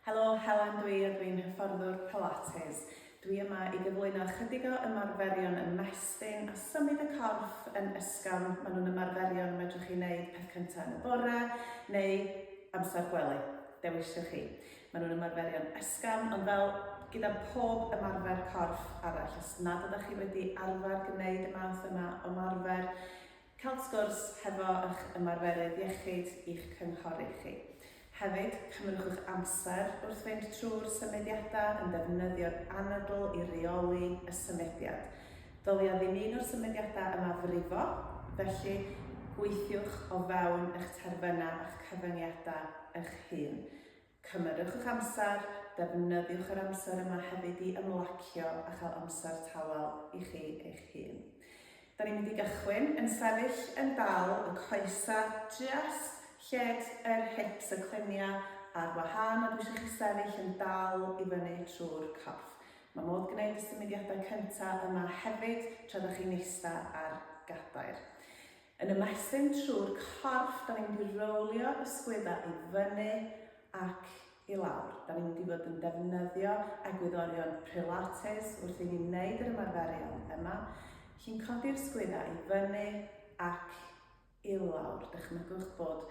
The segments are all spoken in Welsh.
Helo, Helen dwi a dwi'n hyfforddwr Pilates. Dwi yma i gyflwyno ychydig o ymarferion ymestyn a symud y corff yn ysgafn. Maen nhw'n ymarferion y medrwch chi wneud peth cyntaf yn y bore neu amser gwely, dewiswch chi. Maen nhw'n ymarferion ysgafn, ond fel gyda pob ymarfer corff arall, os nad ydych chi wedi arfer gwneud y math yma o ymarfer, Cael sgwrs hefo eich ymarferydd iechyd i'ch cynghori chi. Hefyd, cynhyrchwch amser wrth fynd trwy'r symudiadau yn defnyddio'r anadl i reoli y symudiad. Ddylia ddim un o'r symudiadau yma frifo, felly gweithiwch o fewn eich terfynau a'ch cyfyngiadau eich hun. Cymerwch eich amser, defnyddiwch yr amser yma hefyd i ymlacio a chael amser tawel i chi eich hun. Da ni'n mynd i gychwyn yn sefyll yn dal, y coesa jyst lled yr hips, y clunia ar wahân a dwi eisiau chi sefyll yn dal i fyny trwy'r corff. Mae modd gwneud y symudiadau cynta yma hefyd tra da chi'n eista ar gadair. Yn ymestyn trwy'r corff, da ni'n mynd i rowlio y sgwydda i fyny ac i lawr. Da ni'n mynd i fod yn defnyddio egwyddorion Pilates wrth i ni wneud yr ymarferion yma. Chi'n codi'r sgwydda i fyny ac i lawr. Dychmygwch bod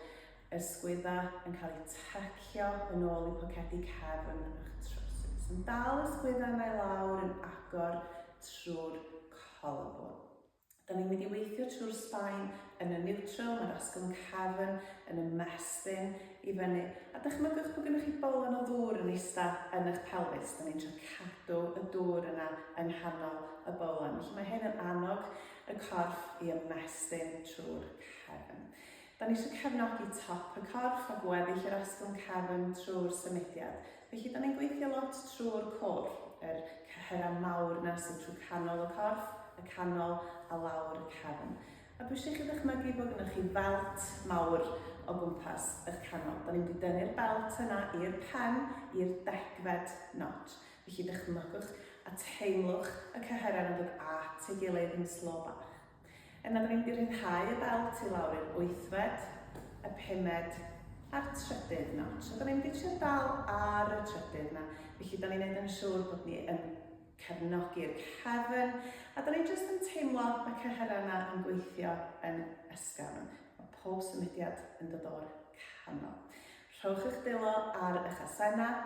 y sgwydda yn cael eu tycio yn ôl i pocedi cefn a'ch trowsus. Yn dal y sgwydda yna i lawr yn agor trwy'r collarbone. Da ni'n mynd i weithio trwy'r sbaen yn y neutral, mae'r asgwrn cefn yn y mespin i fyny. A dychmygwch bod gennych chi bolon o ddŵr yn eistedd yn eich pelfis. Da ni'n trio cadw y dŵr yna yng nghanol y bolon. Felly mae hyn yn annog y corff i ymestyn trwy'r cefn. Da ni eisiau cefnogi top y corff a gweddill yr asgwrn cefn trwy'r symudiad, felly da ni'n gweithio lot trwy'r côr, yr cyhyrau mawr na sydd trwy canol y corff, y canol a lawr y cefn. A dwi eisiau i chi ddychmygu bod gyda chi felt mawr o gwmpas eich canol. Da ni'n mynd i dynnu'r belt yna i'r pen, i'r degfed nod. Felly dychmygwch a teimlwch y cyhyrau yn dod at ei gilydd yn slo bach. Yna da ni'n mynd i ryddhau y belt i lawr i'r wythfed, y pumed a'r trydydd notch. A da ni'n mynd i trio dal ar y trydydd na. Felly da ni'n neud yn siŵr bod ni yn cefnogi'r cefn a da ni jyst yn teimlo y cyhyrau yna yn gweithio yn ysgafn. Mae pob symudiad yn dod o'r canol. Rhowch eich dilo ar eich asennau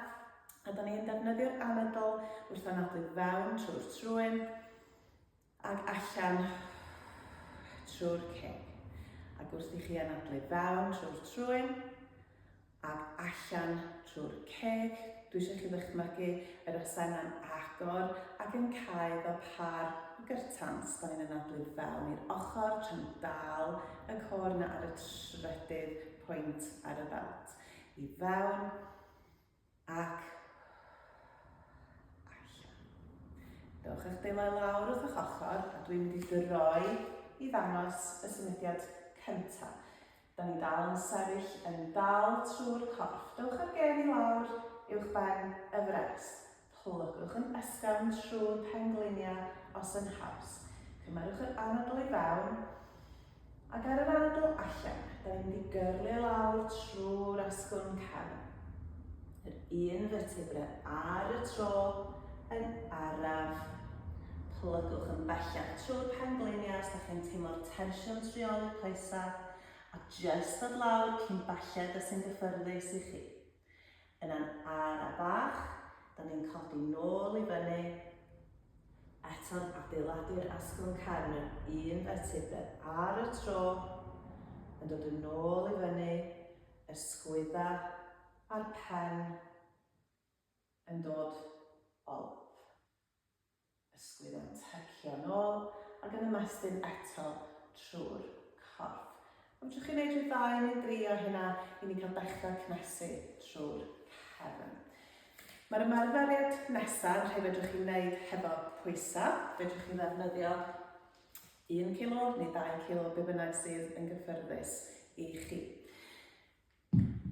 a da ni'n defnyddio'r anadl wrth anadlu fewn trwy'r trwyn ac allan trwy'r ceg. Ac wrth i chi anadlu fewn trwy'r trwyn, ac allan trwy'r ceg, dwi eisiau chi ddychmygu yr osau yna'n agor ac yn cael fel par o gyrtans. Da ni'n anadlu fewn i'r ochr tra'n dal y cor yna ar y trydydd pwynt ar y belt. I fewn, Ac allan. Dewch a'ch dwylo i lawr wrth eich ochr a dwi'n mynd i droi i ddangos y symudiad cyntaf. Da ni dal yn sefyll yn dal trwy'r corff. Dewch â'r gen i lawr uwch ben y frest. Plyggwch yn ysgafn trwy'r pengliniau os yn haws. Cymerwch yr anadl i fewn ac ar yr anadl allan. Da ni'n mynd i gyrlu lawr trwy'r asgwrn cefn. Yr un vertebra ar y tro yn araf. Plygwch yn bellach trwy'r pengliniau os da chi'n teimlo'r tensiwn trioli coesau a jyst dod lawr cyn belled y sy'n gyffyrddus i chi. Yna'n ara bach, da ni'n codi nôl i fyny, eto'n adeiladu'r asgwrn cefn yn un fertibr ar y tro, yn dod yn nôl i fyny, y sgwydda a'r pen yn dod olaf. Ysgwydd yn tyrchio'n ôl ac yn ymestyn eto trwy'r corff. Nawr fedrwch chi wneud rhyw ddau neu dri o hynna i ni cael dechrau cnesu trwy'r cefn. Mae'r ymarferiad nesaf yn rhai fedrwch chi wneud hefo pwysau. Fedrwch chi ddefnyddio 1 kilo neu 2 kilo, be bynnag sydd yn gyffyrddus i chi.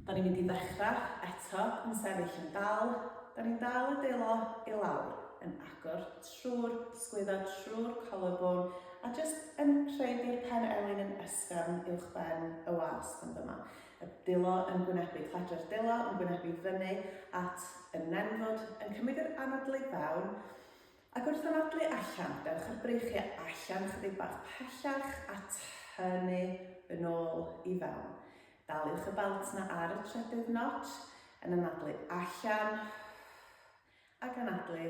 Da ni'n mynd i ddechra eto yn sefyll yn dal, da ni'n dal y delo i lawr, yn agor trwy'r sgwydda, trwy'r collarbone, a jyst yn rhaid i'r pen elin yn ysgafn uwch ben y wast fan dyma. Y delo yn gwynebu, cledra'r delo yn gwynebu fyny at y nenfwd, yn cymryd yr anadlu fewn, ac wrth anadlu allan, dewch â'r breichiau allan chydig bach pellach a tynnu yn ôl i fewn. Daliwch y belt 'na ar y trydydd notch, yn anadlu allan, ac anadlu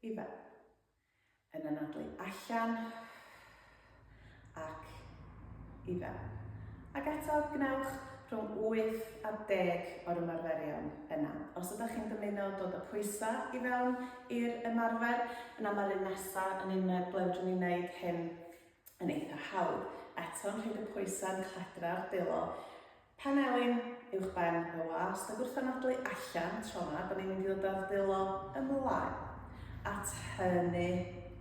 i fewn. Yn anadlu allan, ac i fewn. Ac eto, gwnewch rhwng 8 a 10 o'r ymarferion yna. Os ydych chi'n dymuno dod â pwysau i fewn i'r ymarfer, yna mae'r un nesaf yn un ble fedrwn ni wneud hyn yn eitha hawdd, eto'n rhaid y pwysau'n cladra'r delo panelyn uwchben y wast, a gwrth anadlu allan tro yma, bod ni'n mynd i ddod â'r delo ymlaen at hynny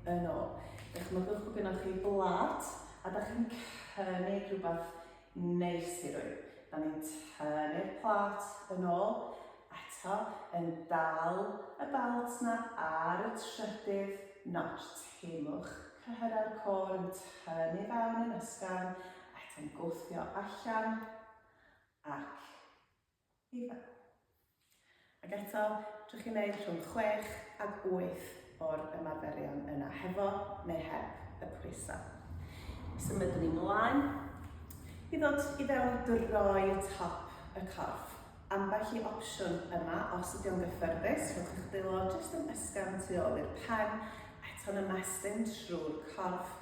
yn ôl. Dychmygwch bod gennych chi blat a da chi'n cynnig rhywbeth Neis ti Rwy. Da ni'n tynnu'r plât yn ôl, eto, yn dal y belt 'na ar y trydydd notch, teimwch cyhyrau'r côr yn tynnu i fewn yn ysgafn, eto'n gwthio allan, ac. Ife. Ac eto, drwy chi wneud rhwng chwech ac wyth o'r ymarferion yna, hefo neu heb y pwysau. Symudwn ni mlaen i ddod i fewn i droi top y corff. Ambell i opsiwn yma, os ydy o'n gyffyrddus, rhowch eich dwylo jyst yn ysgafn tu ôl i'r pen, eto'n ymestyn trwy'r corff,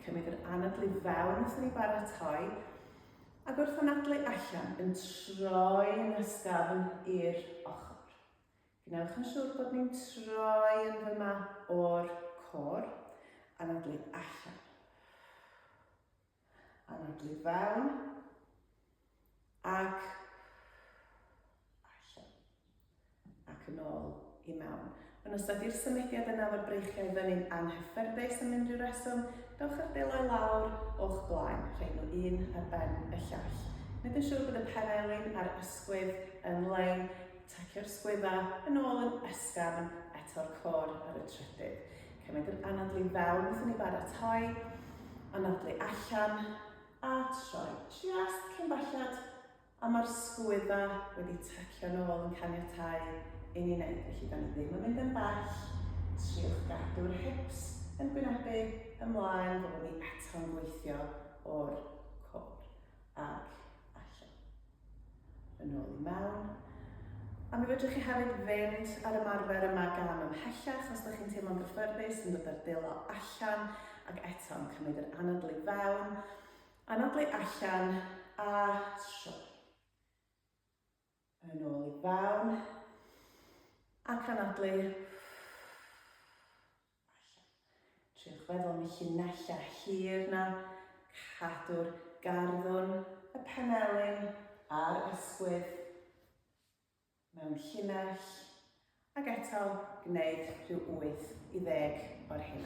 cymryd yr anadl i fewn wrth i ni baratoi, Ac wrth anadlu allan yn troi yn ysgafn i'r ochr. Gwnewch yn siŵr bod ni'n troi yn fyma o'r cor. Anadlu allan. Anadlu fewn. Ac ac yn ôl i mewn. Yn ystod i'r symudiad yna fod breichiau fyny'n anghyffyrddus am unrhyw reswm, dowch â'ch belo i lawr o'ch blaen, rhoi nhw un ar ben y llall. Gwneud yn siŵr bod y penelin a'r ysgwydd yn lein, tacio'r sgwyddau yn ôl yn ysgafn, eto'r côr ar y trydydd. Cymryd yr anadlu i fewn wrth i ni baratoi, anadlu allan, a troi. Just cyn belled A mae'r sgwydda wedi tacio nôl yn caniatáu i ni wneud, felly da ni ddim yn mynd yn bell, triwch gadw'r hips yn gwynebu ymlaen, fyddwn ni eto'n gweithio o'r cor ag allan. Yn ôl i mewn. A mi fedrwch chi hefyd fynd ar ymarfer yma gam ymhellach os da chi'n teimlo'n gyffyrddus yn dod ar delo allan ac eto'n cymryd yr anadl i fewn. Anadlu allan a troi. Yn ôl i fewn. Ac anadlu. Allan. Triwch feddwl am y llinellau hir na. Cadw'r garddwn, y penelin a'r ysgwydd mewn llinell. Ac eto, gwneud rhyw 8 i 10 o'r hyn.